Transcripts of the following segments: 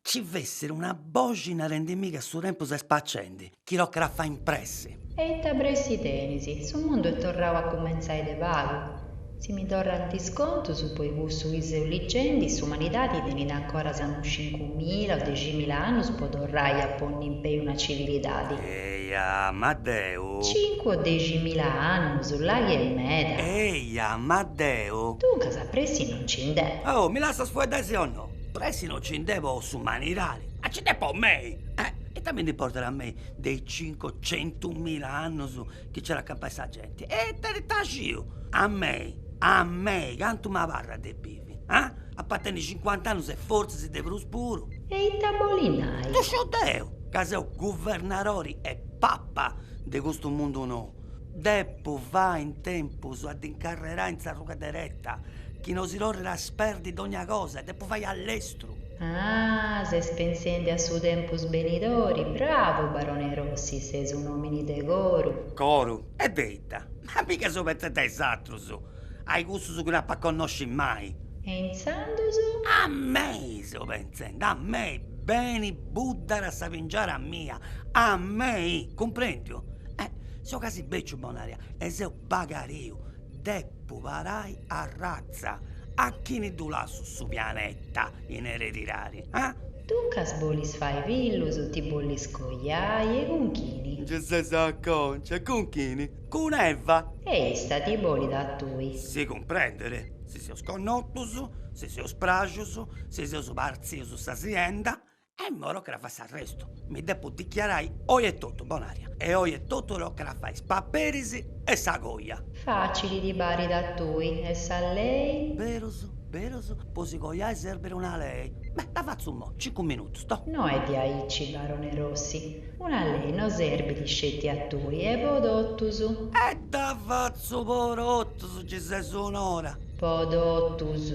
Ci fessiri una boxi narendimì che su tempus est spacendi, chi tocat a fai in pressi. E ita pressi tenis, su mundu est torrau a cumentzai de pagu. Si mi torrant is contus, po i cussu chi seu ligendi, s'umanidadi tenit ancoras unu cincu mila o dexi mila annus po torrai a ponni in pei una civilidadi. Eja, ma deu. Cincu o dexi mila annus, là chi est meda. Eja, ma deu. Duncas, pressi non nci nd'est. Oh, mi lassas fueddai si o no? Pressi no ci nd'est po s'umanidadi. Ah, ci nd'est po mei! E ita mi nd'importat a mei de is cincocentumila annus chi ci at a campai sa genti? E ita ita sciu? A mei, a mei, cantu m'abarrat de bivi? Ah! Ap'a tenni cincuant'annus e fortzis de prus puru! E ita bolit nai? Ddu sciu deu, ca seu guvernadori e papa de custu mundu nou. Depu fai in tempus a dd'incarrerai in s'arruga dereta, chi no si torrit a sperdi dogna cosa e depu fai a lestru. Ah, ses pensendi a su tempus benidori, bravu barone Rossi, ses un'omini de coru. Coru? E de ita? Ma mica seu pentzendi a is atrus. Ai cussus chi no ap'a connosci mai. E intzandus? A mei, seu pentzendi, a mei, beni buddat sa pingiara mia, a mei, cumprendiu? E seu casi beciu, Bonaria, e seu bagariu, depu parai a ratza, a chini ddu lassu su pianeta in eredidadi? Ah! Duncas bolis fai fillus, ti bolis coiai e cun chini? Gi ses acònciu, e cun chini? Cun Eva. E issa ti bolit a tui. Si cumprendit, si seus connotus, si seus pràxius, si seus partzius sa sienda, e imoi tocat a fai s'arrestu. Mi depu dichiarai oi etotu, Bonaria, e oi etotu tocat a fai is paperis e sa coja. Facili ti parit a tui, e sa lei? Berus, berus, po si cojai serbit una lei. Beh, dda fatzu imoi, cincu minutus, to. No est diaici, barone Rossi, Una lei no serbit sceti a tui, est po totus. E dda fatzu po totus, gi ses un'ora. Po totus,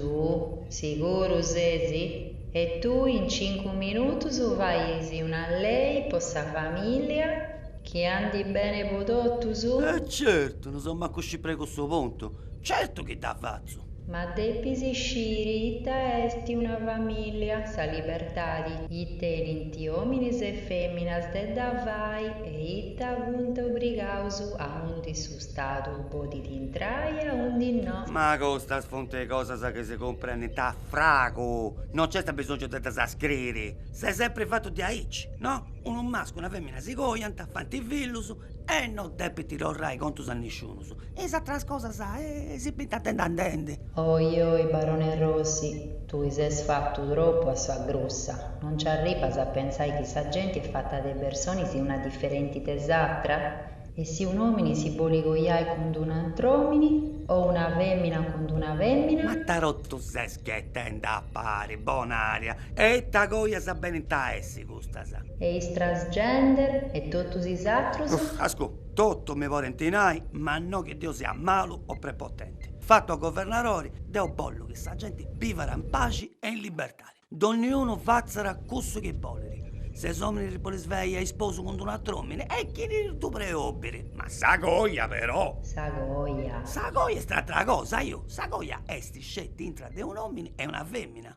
siguru ses? E tui in cincu minutus fais una lei po sa familia chi andit bene po totus? E certu, no seu mancu scimpru a cussu puntu, certu chi dda fatzu. Ma depis sciri ita est una famìllia, sa libertadi chi tenint òminis e fèminas de dda fai e ita funt obrigaus aundi su Stadu podit intrai e aundi no. Ma custas funt cosas chi si cumprendint a fragu, no nc'est abisòngiu de ddas scriri, s'est sempri fatu diaici, no? Unu mascu e una fèmina si coiant, faint fillus, e non depit torrai contus a nisciunus, is ateras cosas si bint andendi andendi. Oi oi Barone Rossi, tui ses fatu tropu a sa grussa, non nci arribas a pentzai chi sa genti est fata de personis una diferenti de s'atra? E si un'omini si boli coiai cun d'un'antr'omini o una femina cun d'una femina? Ma ita totu ses ghetendi a pari, Bonaria, e ita coias benint a essi? custas. E is transgender e totus is atrus? Ascù, totu mi podint nai, ma no chi deu sia malu o prepotenti. Fatu a governarori, deu bollu chi sa genti bivat in paxi e in libertadi. Donniunu fatzat cussu chi bolit. Ses omini ti bolis fai a isposu cun d'un'atr'omini e chini ti ddu preobit. Ma sa coja però. Sa coja. Sa coja est atra cosa, aiò. Sa coja est sceti intra de un'omini e una femina.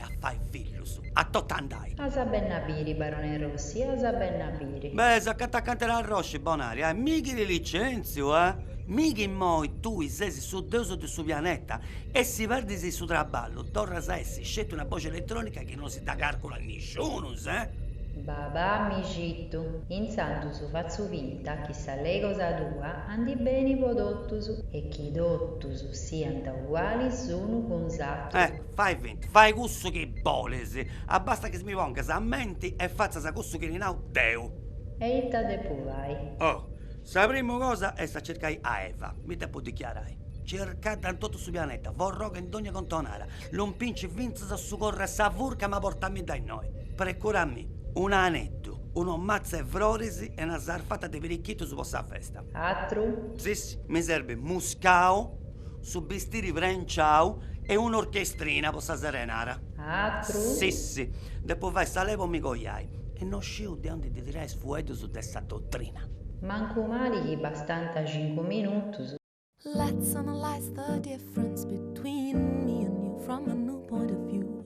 e a fai fillus, a totu andai. As a benn'a biri, Barone Rossi, as a benn'a biri. Beh, seu acanta acanta 'e t'arrosci, Bonari, eh! Mi chi ti licentziu, eh! Mi chi immoi tui sesi su deus de su pianeta e si perdis su traballu torras a essi sceti una boxi elettronica chi non si dda carculat nisciunus, eh! Ba ba, mi citu. Intzandus fatzu finta chi sa lei cosa tua andit beni po totus e chi totus siant ugualis s'unu cun s'atru. Eh! Fai finta, fai cussu chi bolis, abbastat chi mi pongas a menti e fatzas cussu chi ti nau deu. E ita depu fai? Oh, sa primu cosa est a circai a Eva, mi depu dichiarai. Circadda in totu su pianeta, forroga in dogna contonara, lompinci fintzas a su corru 'e sa furca ma portammidda innoi. Precurammi un'aneddu, unu matzu 'e froris e una sarfata de pirichitus po sa festa. Atru? Sissi, mi serbit muscau Su bistiri prenciau e un'orchestrina po sa serenara. Atru? Sissi. Depu fai sa lei po mi coiai. E no sciu de ondi ndi tirai is fueddus de sa dotrina. Mancu mali chi bastanta cincu minutus. Let's analyze the difference between me and you from a new point of view.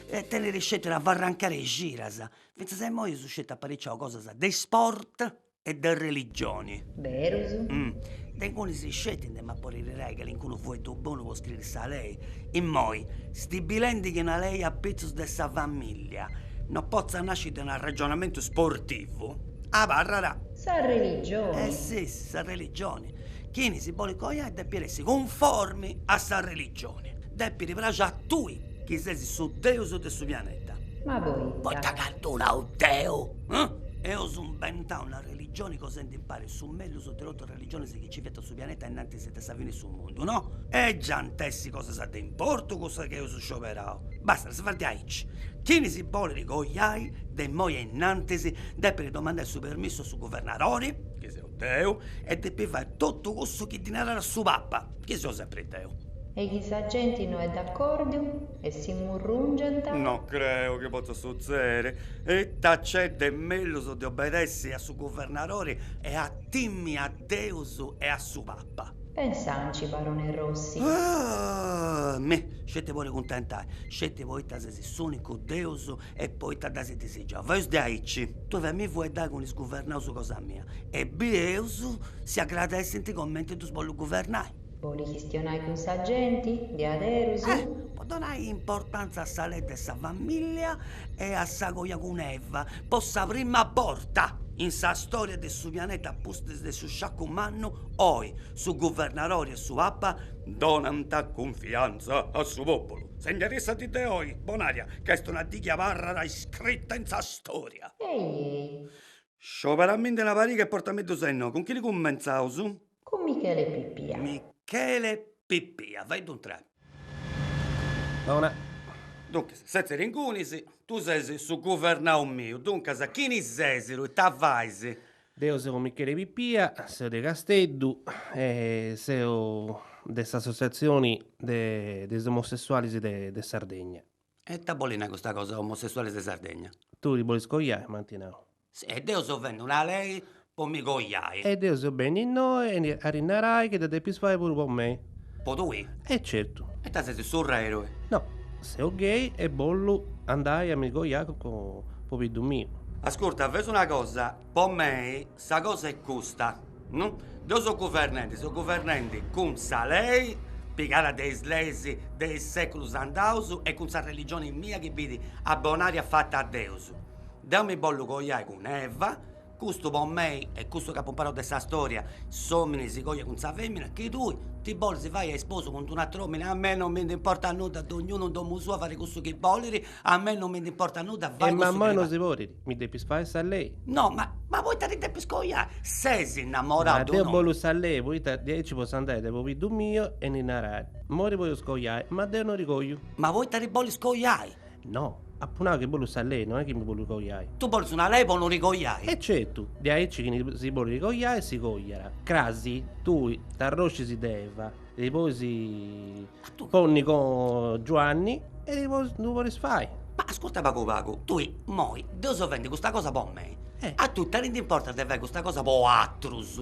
e tenit sceti una farrancada 'e cidas, fintzas a imoi eus sceti apariciau cosas de isport e de religioni. Berus? De ingunis sceti ndi m'apu a tirai calincunu fueddu bonu po scriri sa lei, imoi, stibilendi chi una lei apitzus de sa familia no potzat nasci de un arragionamentu sportivu, abarrat. Sa religioni. E si, sa religioni. Chini si bolit coiai depit essi cunformi a sa religioni. Depit praxi a tui chi ses su deus de su pianeta. Ma poita? Poita ca ddu nau deu? Eus imbentau una religioni cosendi impari su mellus de totus is religionis chi ci fiant su pianeta innantis de sa fini 'e su mundu, no? E gi ant essi cosas de importu cussas chi eus scioberau? Basta, si fait diaici. Chini si bolit coiai de immoi e innantis depit domandai su permissu a su guvernadori, chi seu deu, e depit fai totu cussu chi ddi narat su papa. Chi seu sempri deu. E chi sa genti no est d'accordiu e si murrungent. No creu chi potzat sutzèdiri. Ita nc'est de mellus de obedèssiri a su guvernadori e a timi a Deus e a su Papa? Pensanci, barone Rossi. Ahh! Mi, sceti po ti cuntentai, sceti poita ses s'ùnicu Deus E poita dd'as disigiau faeus diaici. Tui faimì fueddai cun is guvernaus cosa mia e bieus si agradessint comenti ddus bollu guvernai. Bolit chistionai cun sa genti, diaderus? Eh! Po donai importantza a sa lei de sa famìllia e a sa coja cun Eva, po sa prima borta in sa stòria de su pianeta a pustis de su sciacu mannu, oi su guvernadori e su papa donant cunfiantza a su pòpulu. Sinna-ti sa dì de oi, Bonària, Ch'est una dì chi abarrat iscrita in sa storia. Ehi! Scioberamindi una pariga e portamiddus innoi. Cun chini cummentzaus? Cun Michele Pippia. Michele Pippia, faiddu intrai. Bona. Duncas, setzi-ti ingunis, tui ses su guvernau miu, duncas chini ses, ita fais? Deu seu Michele Pippia, seu de Casteddu e seu de s'Assotziatzioni de de is Omosessualis de de Sardegna. E ita bolit nai custa cosa Omosessualis de Sardegna? Tui ti bolis coiai, m'ant nau. Si, e deu seu fendi una lei po mi coiai. E deu seu benniu innoi a ti narai chi dda depis fai puru po mei. Po tui? E certu. E ita ses surra eroe? No, seu gay e bollu andai a mi coiai cun pobiddu miu. Ascurta, faeus una cosa, po mei sa cosa est custa, no? Deu seu guvernendi, seu guvernendi cun sa lei pigada de is leis de is seculus andaus e cun sa religioni mia chi bit a Bonària fata a Deus. Deu mi bollu coiai cun Eva. Custu po mei est custu ch'apo imparau de sa storia, s'omini si coiat cun sa femina, chi tui ti bolis fai a isposu cun d'unu atru omini, a mei non mi nd'importat nudda, dognunu in domu sua fait cussu chi bolit, a mei non mi nd'importat nudda, fai cussu chi bolit. E ma immoi non si podit, mi depis fai sa lei. No, ma ma poita ti depis coiai, ses innamorau de un'omini. Ma deu bollu sa lei, poita diaici potzu andai de pobiddu miu e ddi narai, moi ti potzu coiai, ma deu non ti coiu. Ma poita ti bolis coiai. No, apu nau chi bollu sa lei, no est chi mi bolli coiai. Tui bolis una lei po no ti coiai? E certu, de aici chi chini si bollit coiai si coiat. Crasi, tui t'arroscis de Eva, ti bois ponni con Giuanni e no ddu podis fai. Ma ascurta pagu pagu, tui moi deu seu fendi custa cosa po mei, a tui ita ti ndi importat de fai custa cosa po atrus?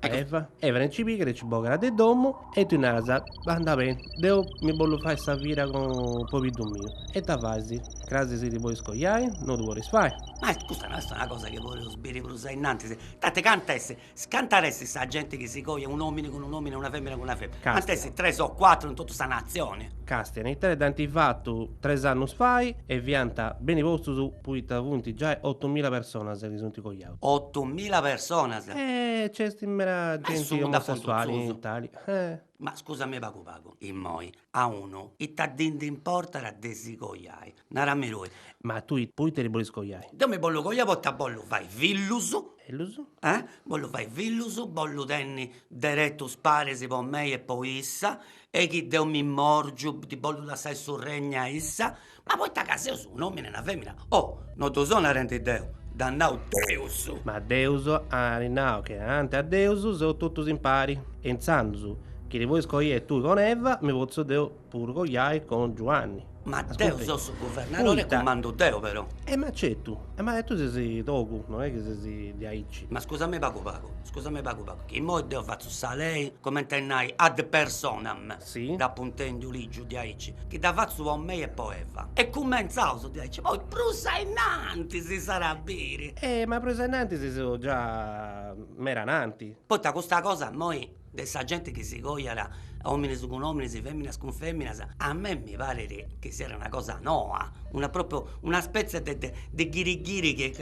Eva, Eva nci pigat e ci bogat de domo e tui naras, andat bene, deo mi bollu fai sa vira cun pobiddu miu. E ita fais? Cras si ti bolis coiai? No ddu podis fai? Ma custa no est una cosa chi podeus biri prus ainnantis? Tanti canta est, canta est sa genti chi si coiat un'omini cun un'omini e una femina cun una femina? Castia. Ant essi tres o cuatru in totu sa nazioni. Castia, in Italia dd'ant fatu tres annus fai e fiant beni postus poita funt giai otumila personas chi sunt coiaus. Ottu mila personas. Nc'est meda genti omosessuali in Italia. Ma scusami pagu pagu, immoi a unu ita ddi ndi importat de si coiai? Narami tui. Ma tui poita ti bolis coiai? Deu mi bollu coiai poita bollu fai fillus. Fillus? Eh? Bollu fai fillus, bollu tenni deretus paris po mei e po issa, e chi deu mi morgiu ddi bollu lassai su regnu a issa, ma poita ca seus un'omini e una femina, oh no ddu seu narendi deu, dd'at nau Deus. Ma Deus at nau chi ananti a Deus seus totus impari, e intzandus chi ti bois coiai tui cun Eva, mi potzu deu puru coiai cun Giuanni. Ma deo seu su guvernadore e cumandu deo però. E m'acetu, e ma tui ses togu, non è chi ses de aici. Ma scusami pagu pagu, scusami pagu pagu, chi immoi deo fatzu sa lei comente a nai ad personam, si, d'apu intendiu ligiu de aici, chi dda fatzu po mei e po Eva, e cumentzaus de aici, poi prus a innanti si s'at a biri. E ma prus a innanti seus già meda ananti. Poita custa cosa immoi de sa gente chi si coiat ominis cun ominis feminas cun feminas a me mi parit chi siat una cosa noa una propriu una spezie de de de ghiri ghiri chi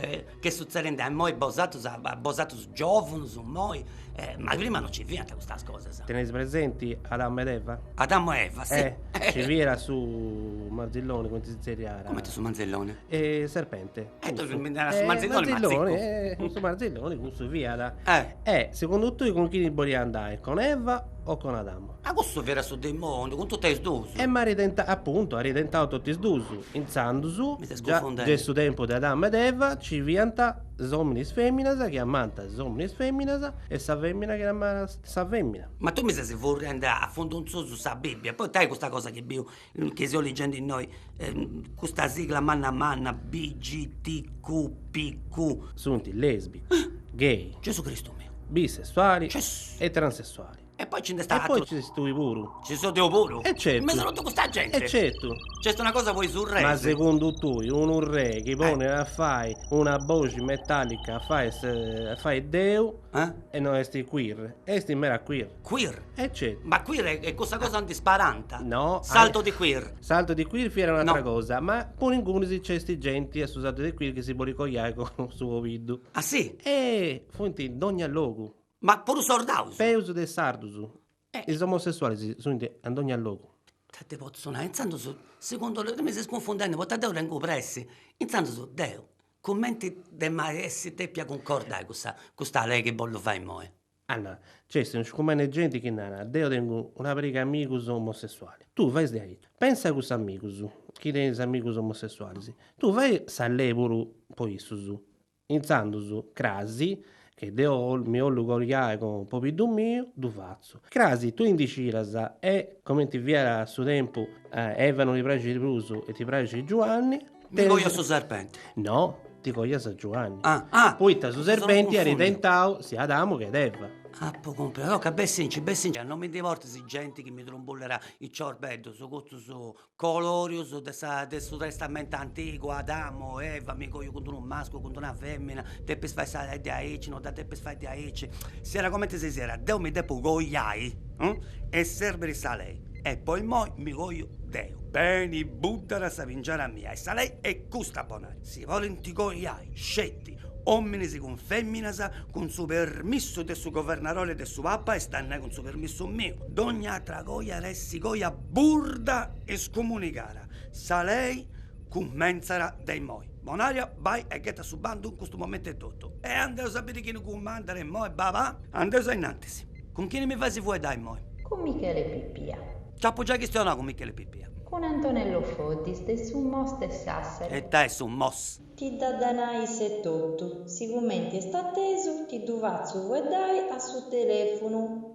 est suzzedende immoi a bosatrus a bosatrus giovunus immoi e ma prima non ci fiant custas cosas. Teneis presenti Adamo ed Eva? Adamo e Eva si. Ci fiat su marzilloni, cumenti si zerriat? Cumenti su manzelloni? Serpente E tui mi naras su Marzilloni, Marzilloni, e su Marzilloni cussu fiat. E segundu tui cun chini boliat andai, con Eva o con Adamo? Ma cussu fiat su dimoniu cun totu e is duus. E ma apuntu, at tentau totu is duus. Intzandus, già de su tempus de Adamo e de Eva, nci fiant is ominis feminas chi amant is ominis feminas e sa femina chi amat sa femina. Ma tui mi ses furriendu a fundu in susu sa Bibbia, poita custa cosa chi biu Nche seus ligendi innoi custa sigla manna manna, BGTQ, PQ. Sunt lèsbicu, gay. Gesù Cristu meu. Bisessuali. Gesù. E transessuali. E poi nci nd'est ateru. E poi nci ses tui puru. Nci seu deu puru? E certu. In mesu a totu custa genti. E certu. Nc'est una cosa poi su re. Ma segundu tui unu re chi ponit a fai una boxi metallica a fai a fai deu e no est queer? Est mera queer. Queer. E certu. Ma queer è, è cussa cosa aundi sparanta. No. Salto di queer. Salto di queer fiat un'atra no. cosa, ma puru ingunis nc'est genti a su salto di queer chi si bolit coiai cun su pobiddu. Ah sì? E funt in dogna logu. Ma puru sordaus? Peus de sardus. Eh. Is omosessualis sunt a dogna logu. Ita ti potzu nai, intzandus, segundu deu, mi ses cunfundendi, poita deu tengu pressi, intzandus deu, cumenti dd'emu a essi depia cuncordai custa custa lei chi bollu fai imoi? Anna, Nc'est in scumene genti chi narat, deo tengu una pariga amigus omosessualis. Tui fais diaici. Pensa a cussus amigus chi tenit is amigus omosessualis. Tui fai sa lei puru po issus. Intzandus, crasi, chi deo mi 'ollu coiai cun pobiddu miu, ddu fatzu. Crasi, tui ndi sciras, e, comenti fiat a su tempus, Eva no ti praxit prus e ti praxit Giuanni, Mi coju su serpenti. No, ti cojas a Giuanni. Ah, ah. Poita su serpenti arit tentau sia Adamu che Eva. Apu cumpresu. Toca bessinci, bessinci. Non mi ndi portis genti chi mi trumbullera is ciorbeddus, custus colorius de sa de su testamentu antigu, Adamu, Eva, mi coju cun d'unu masculu, cun d'una femina, depis fai sa lei diaici, no dda depis fai diaici. Siat comenti si siat, deu mi depu coiai e serbiri sa lei. e po immoi mi coju deu. Beni buddara sa pingiara mia e sa lei est custa Bonaria, si porint coiai sceti ominis cun feminas cun su permissu de su governadori e de su papa est a nai cun su permissu miu dogna atra coja at essi coja burda e scumunigara sa lei cummentzara de immoi Bonaria bai e ghetta su bandu in custu momentu etotu e andeus a biri chini cumandara immoi baba. Andeus ainnantis. Cun chini mi faisi fueddai immoi? Cun Michele Pipia. Nci apu giai chistionau cun Michele Pipia. Cun Antonello Foddis de su MOS de Sassari. E ita est su MOS? Ti dd'at a nai issu etotu, sigumenti est atesu ti ddu fatzu fueddai a su telefunu.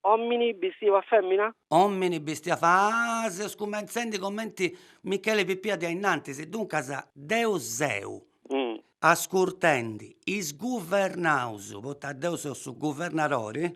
Omini bistiu a femina? Omini bistiu a fa. Ah, seus cumentzendi comenti Michele Pippia diai innantis, duncas, deu seu. Ascurtendi, isguvernaus, poita deu seu su guvernadori,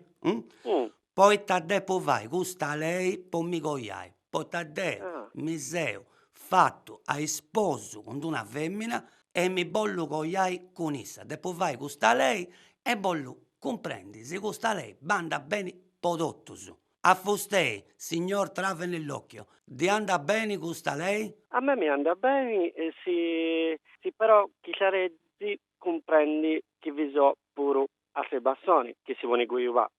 poita depu fai custa lei po mi coiai. poita deo mi seu fatu a isposu cun d'una femina e mi bollu coiai cun issa depu fai custa lei e bollu cumprendi si custa lei bandat beni po totus a fustei signor trave nell'occhio ddi andat beni custa lei? A mei mi andat beni si si però chi sciareddi cumprendi chi vi so puru altre passoni chi si poni cuiubà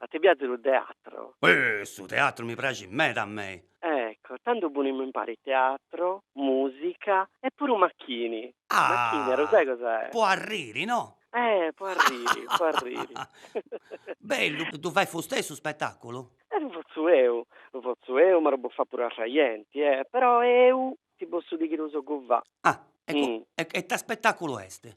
A te piazi lu teatro? Eeh, su teatro mi praxit meda a mei! Ecco, tandu punimmu impari teatro, musica e puru macchini. Macchini, a lu sai cosa è? Po arriri, no? Eh, po arriri, po arriri. Bellu, ddu fait fustei su spettaculu? Eh, lu fozzu eu, lu fozzu eu, ma lu po fà puru altra jenti, eh, però eu ti possu dì chi lu soggu fà. Ah, e e ita spettaculu est?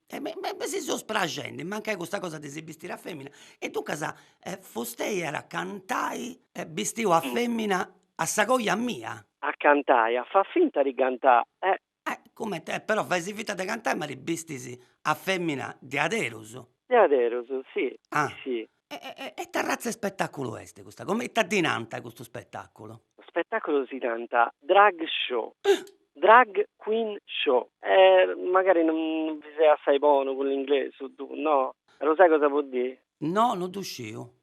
E me me mi si seus praxendi, mancai custa cosa de si bistiri a femina, e duncas e fustei at a cantai e bistiu a femina a sa coja mia. A cantai, a fà finta di cantai e. E comente, e però faisi finta de cantai ma ti bistis a femina diaderus. Diaderus, si, si, si. e ita razza 'e spettaculu est custa, come ita ddi nant a custu spettaculu? Custu spettaculu si nant drag show, drag queen show, magari non bi seu assai bonu cun l'inglesu ttu no? Ma ddu sai cosa vuol dire? No non ddu sciu.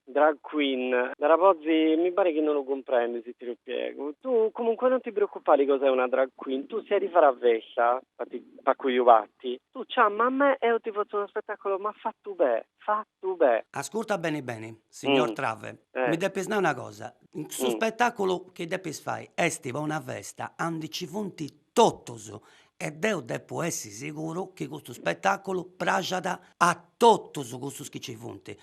Drag queen, dara pozzi mi parit chi non ddu cumprendi si ti ddu spiegu, ttu comunque non ti preoccupari cosa è una drag queen, ttu si 'e ddi fara festa Fati pacu iu fati. Tu ciamma a me eo ti fotzu unu spettacolo ma fattu be, fattu be. Ascurta beni beni signor Trave, mi depis nai una cosa, su spettaculu chi depis fai esti po una festa andi cci funti totus e deu depu essi siguru chi custu spettaculu praxat a totus custus chi cci funti,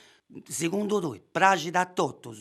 segundu tui praxit a totus?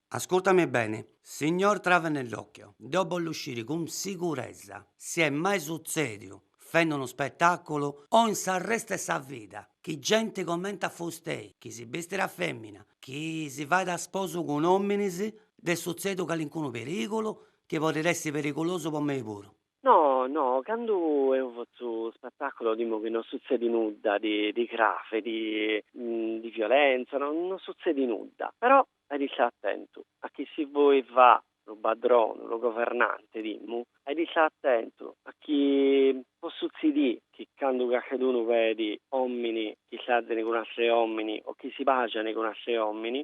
Ascurtami beni, signor Trave nell'occhio, deo bollu sciri cun siguresa si est mai sutzediu, fendi unu spetaculu o in s'arrestu 'e sa vida, chi genti comenti a fustei, chi si bestit a femina, chi si fait a sposu cun ominis, nd'est sutzediu calincunu perigulu, chi podit essi perigulosu po mei puru. No, no, candu eo fotzu spettacolo dimmu chi no sutzedi nudda di di grave, di di violenza, no no sutzedi nudda. Però ai di istà attentu, achì si voi fà lu padronu, lu governante dimmu, ai di istà attentu, achì po sutzidi chi candu calchedunu vedi omini chi istazini cun atri omini o chi si baxani cun atri omini,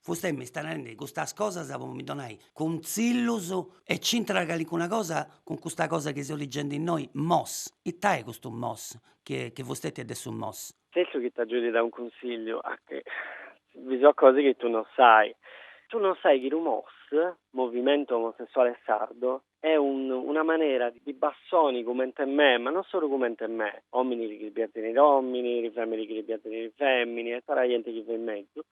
Fustei mi stait narende custas cosas po mi donai cuntzillus e nc'intrat calincuna cosa cun custa cosa chi seu ligende innoi, mos, ita est custu mos chi chi fusteti est de su mos? Pensu chi t'agiu di dà unu cunsigliu, vi so cosi chi tu non sai, tu non sai chi lu mos, Movimento Omosessuale Sardo, est unu una manera di passoni comente me, ma non solu comente me, omini chi piazini li omini, femini chi piazini li femini e tutta la jente chi fait mezus,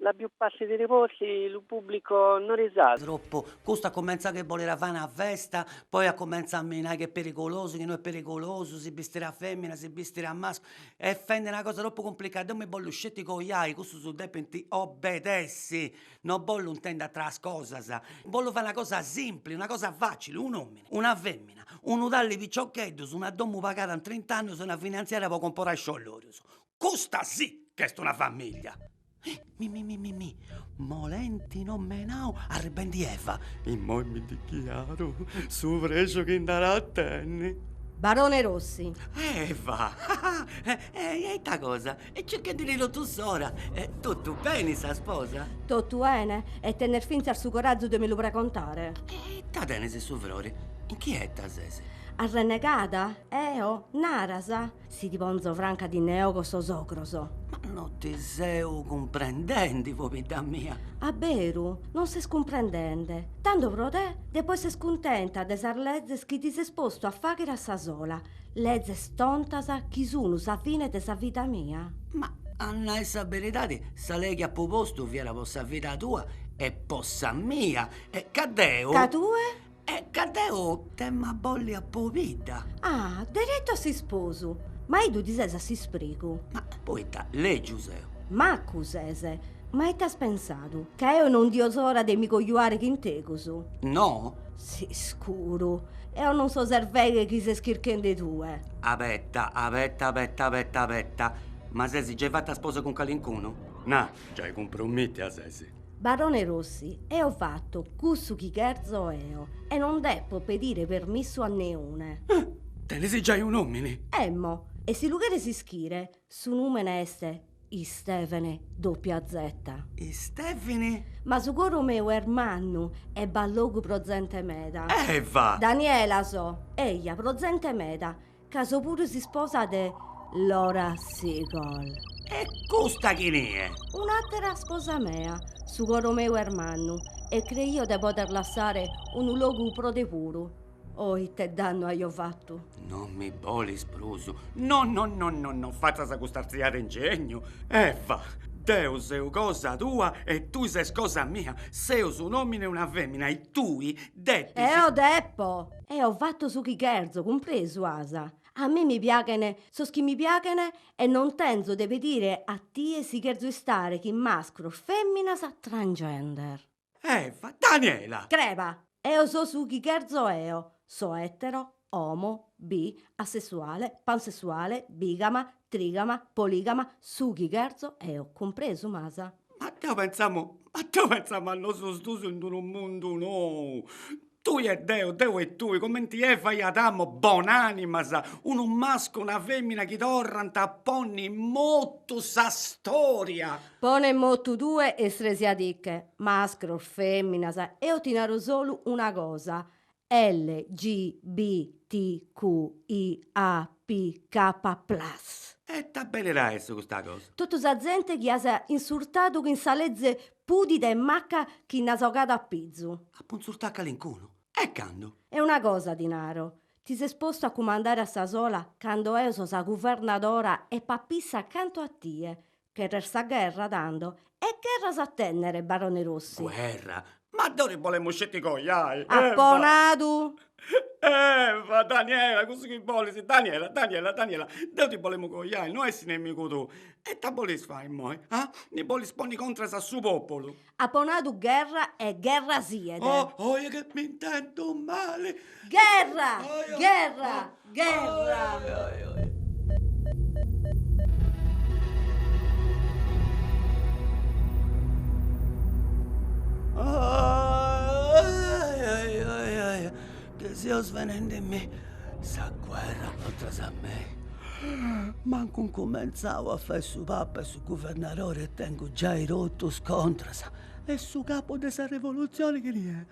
La più parti di li volti lu pubblico no risat. Troppu. Custu at comenzau chi boliat fai una festa, poi at comenzau a mi nai chi est perigulosu, chi no est perigulosu, si bistiri a femina, si bistiri a masculu, est fendi una cosa troppu cumplicada, deu mi bollu sceti coiai, custus depint obedessi, no bollu intendi ateras cosas, bollu fai una cosa simpli, una cosa facili, un omini, una femina, unu tallu 'e piciocheddus, una domu pagada in trint'annus e una finanziaria po comporai sciollorius, Custa sì ch'est una famiglia! Mi mi mi mi mi Molenti nomenau, arribendi Eva. Immoi mi dichiaru, su prexu chi nd'at a tenni. Barone Rossi. Eva! Ehi, e ita cosa? E circhendi-ti totu s'ora! Totu beni sa sposa? Totu 'ene, e tenes fintzas su corazu de mi lu pregontare? E ita tenes, su frori? Inchieta ses? Arrennegada? Eo? Naras? Si ti ponzo franca ti nde 'ogo sos ogros. Ma no ti seu cumprendende, pobidda mia. A beru, non ses cumprendende. Tando pro te, depo esser cuntenta de sas lezes chi ti ses postu a faghere a sa sola, lezes tontas chi sunu sa fine de sa vida mia? Ma a nai sa beridade, sa lei chi apo postu fiat pro sa vida tua e po sa mia, e ca deo. Ca tue? E ca deo t'emu a bolli a pobidda. Ah, deretu a s'isposu. Ma 'idu ti ses a s'isprigu. Ma poita, lègiu seu. Macu ses, ma ite as pensadu, ca eo no 'idio s'ora de mi cojuare chin tegus? No? S'iscuru, eo non so s'erveghe chi ses chirchende tue. Abeta, abeta, abeta, abeta, abeta. Ma ses giai fata a sposa cun calincunu? Na, Giai cumpromìtia ses. Barone Rossi, eo fatto cussu chi cherzo eo e non deppo pedire permissu a neune. Ah! Tenes giai un'omini? Emmo, e si lu cheres ischire, su numene est Istevene doppia zeta. Istevene? Ma su coro meu est mannu e b'at logu pro zente meda. Eva! Daniela so, eja, pro zente meda. Ca so puru s'isposa de Laura Segal. E custa chini est? Un'àtera sposa mea, su coro meu est mannu e creio de poder lassare unu logu pro te puru. Oh, ite dannu aio fatu! Non mi bolis prus? No, no, no, no, no fatzas custa artziada 'e ingegnu. Eva, deu seu cosa tua e tui ses cosa mia. Seus un'òmine e una fèmina e tui depis... Eo depo! Eo fatto su chi gherzo, cumpresu as. A mie mi piaghen sos chi mi piaghen e non tenzo de pedire a tie si gherzo istare chin mascros, feminas, transgender. Eva, Daniela! Creba, Eo so su chi gherzo eo, so etero, omo, bi, asessuale, pansessuale, bigama, trigama, poligama, su chi gherzo eo, cumpresu m'as. Ma deo pensamo ma deo pensamo a nosos duos in d'unu mundu nou. Tui e deu, deu e tui, comenti Eva e Adamo, bon'animas, unu mascu e una femina chi torrant a ponni in motu sa storia. Pone in motu tue e stresiadiche, mascros, feminas, eo ti naro solu una cosa, LGBTQIAPK plus. E ita benit a essi custa cosa? Totu sa zente chi as insurtadu chin sa leze Pudida e macca chi nd'as ogada a pizu. Apu insurtau calincunu. E candu. E una cosa ti naro. Ti ses postu a cumandare a sa sola cando eo so sa guvernadora e papissa cantu a tie. Cheres sa gherra, tando. E gherra as a tennere, barone Rossi. Guerra? Ma deu ti bolemu sceti coiai. Apo nadu! Eva, Daniela cussu chi bolis, Daniela Daniela Daniela deu ti bolemu coiai no essi nemigu tuu, e ita bolis fai moi ah, mi bolis ponni contras a su populu. Apo nadu gherra e gherra siet. Oh oja chi m'intendu mali. Gherra! Gherra! gherra chi seu svenendimì sa guerra contras a mei mancu incumentzau a fai su papa e su guvernadori e tengu giai totus contras e su capu de sa revolutzioni chini est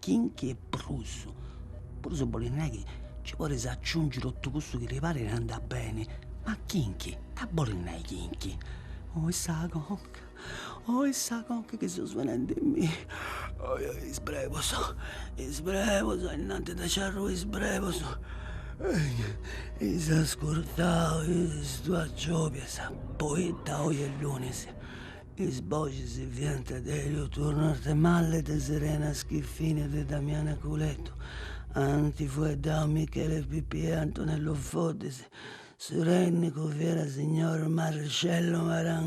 kinky e prus, prus bolit nai chi nci podis aciungi totu cussu chi ti parit e andat beni, ma kinky, ita bolit nai kinky, oi sa conca, oi sa conca chi seu svenendimì, oi oi is brebus, is brebus e innantis de nci arrui is brebus eis ascurtau is duas giobias, poita oi est lunis Is boxis fiant de Elio Turno Arthemalle, de Serena Schiffini e de Damiana Culeddu, anti fueddau Michele Pipia e Antonello Foddis, su tènnicu fiat signor Marcello Maran.